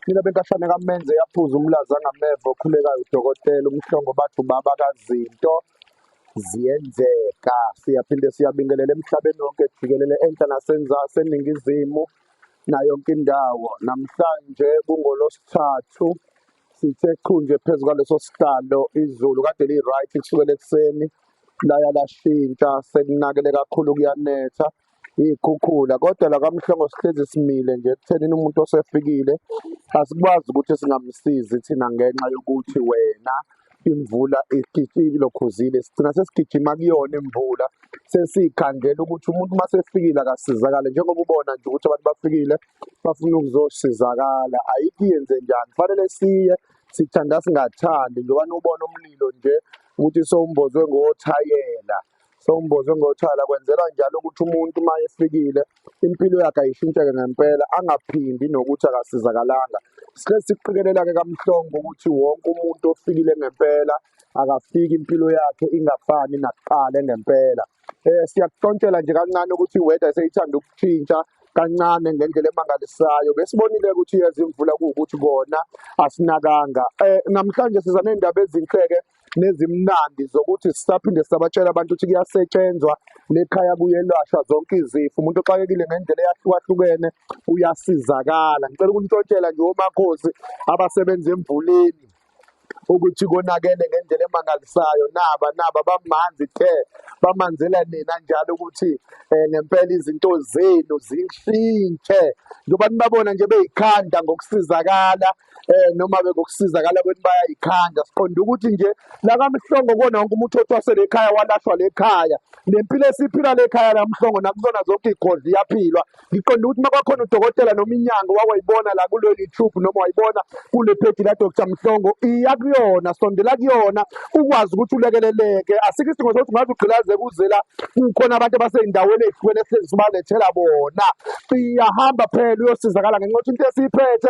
Mina benkahlane kamenze yaphuza umlaza ngameva okhulekayo udokotela umhlongo bathi ubaba kazinto ziyenzeka siyaphinde siyabingelela emhlabeni wonke jikelele enhla nasenzasi eningizimu nayo yonke indawo namhlanje kungolosithathu sithe qhu nje phezu kwaleso sihlalo izulu kade liyi-right kusukela ekuseni laya lashintsha selinakele kakhulu kuyanetha iy'khukhula kodwa la kamhlongo sihlezi simile nje ekuthenini umuntu osefikile asikwazi ukuthi singamsizi thina ngenxa yokuthi wena imvula ilokhuzile sigcina sesigijima kuyona imvula sesikhandela ukuthi umuntu uma sefikile akasizakale njengoba ubona nje ukuthi abantu bafikile bafuna ukuzosizakala ayikho yenze njani kufanele siye sithanda singathandi njengoba ubona umlilo nje ukuthi sowumbozwe ngothayela Sewumboze ngothala kwenzelwa njalo ukuthi umuntu uma efikile impilo yakhe ayishintsheke ngempela angaphindi nokuthi akasizakalanga. Sike sikuqikelela-ke kaMhlongo ukuthi wonke umuntu ofikile ngempela akafiki impilo yakhe ingafani nakuqala ngempela. Eh siyakuhlontshela nje kancane ukuthi iweather seyithanda ukushintsha kancane ngendlela emangalisayo besibonile ukuthi iyezimvula kuwukuthi kona asinakanga eh namhlanje siza nezindaba ezinhleke nezimnandi zokuthi sisaphinde sabatshela abantu ukuthi kuyasetshenzwa nekhaya kuyelashwa zonke izifo umuntu oxakekile ngendlela eyahlukahlukene uyasizakala ngicela ukunitshotshela nje omakhosi abasebenza emvuleni ukuthi konakele ngendlela emangalisayo naba naba bamanzi the bamanzela nina njalo ukuthi um ngempela izinto zenu zishintshe njengoba nibabona nje beyikhanda ngokusizakala eh noma bekokusizakala ukuthi bayayikhanda siqonda ukuthi nje lakamhlongo kona wonke umuntu othwase lekhaya walahlwa lekhaya nempilo esiphila lekhaya lamhlongo nakuzona zonke igodli yaphilwa ngiqonda ukuthi makwakhona udokotela noma inyanga wawayibona la kulo YouTube noma wayibona kule page la Dr Mhlongo iya kuyona sondela kuyona ukwazi ukuthi ulekeleleke asikho isidingo sokuthi ngabe ugqilaze kuzela kukhona abantu abaseyindaweni ezihlukene esihlezi sibalethela bona siyahamba phela uyosizakala ngenxa yokuthi into esiyiphethe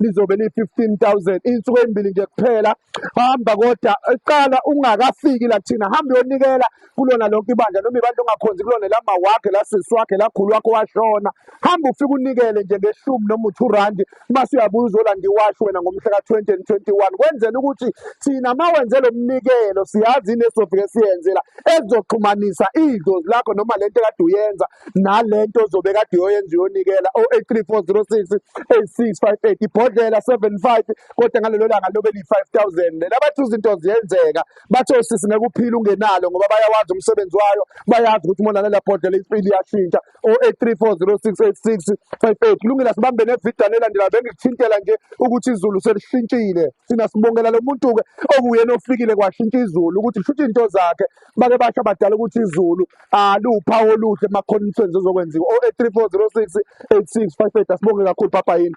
lizobe liyi-15,000 iy'nsuku ey'mbili nje kuphela hamba kodwa qala ungakafiki la kuthina hamba uyonikela kulona lonke ibandla noma ibandla ongakhonzi kulona lama wakhe la sisi wakhe la khulu wakho washona hamba ufike unikele nje ngeshumi noma u-two randi mase uyabuya uzolanda iwashi wena ngomhla ka-twenty and twenty-one kwenzela ukuthi thina ma wenze lo mnikelo siyazi yini esizofike siyenzela ezoxhumanisa idlozi lakho noma le nto ekade uyenza nalento ozobe kade yoyenza uyonikela o 83406 8658 ibhodlela 75 kodwa ngalelo langa lobe li 5000 lena bathi izinto ziyenzeka bathi osisi ngeke uphile ungenalo ngoba bayawazi umsebenzi wayo bayazi ukuthi mona nela bhodlela impilo iyashintsha o 8340686 58 kulungile sibambe nevideo nelandela bengikuthintela nje ukuthi izulu selishintshile sina sibongela lo muntu ke okuyena ofikile kwashintsha izulu ukuthi kushuthi into zakhe bake basho abadala ukuthi izulu aliwuphawu oluhle emakhoneni umsebenzi ozokwenziwa o 3406 8658 asibonge kakhulu papa yini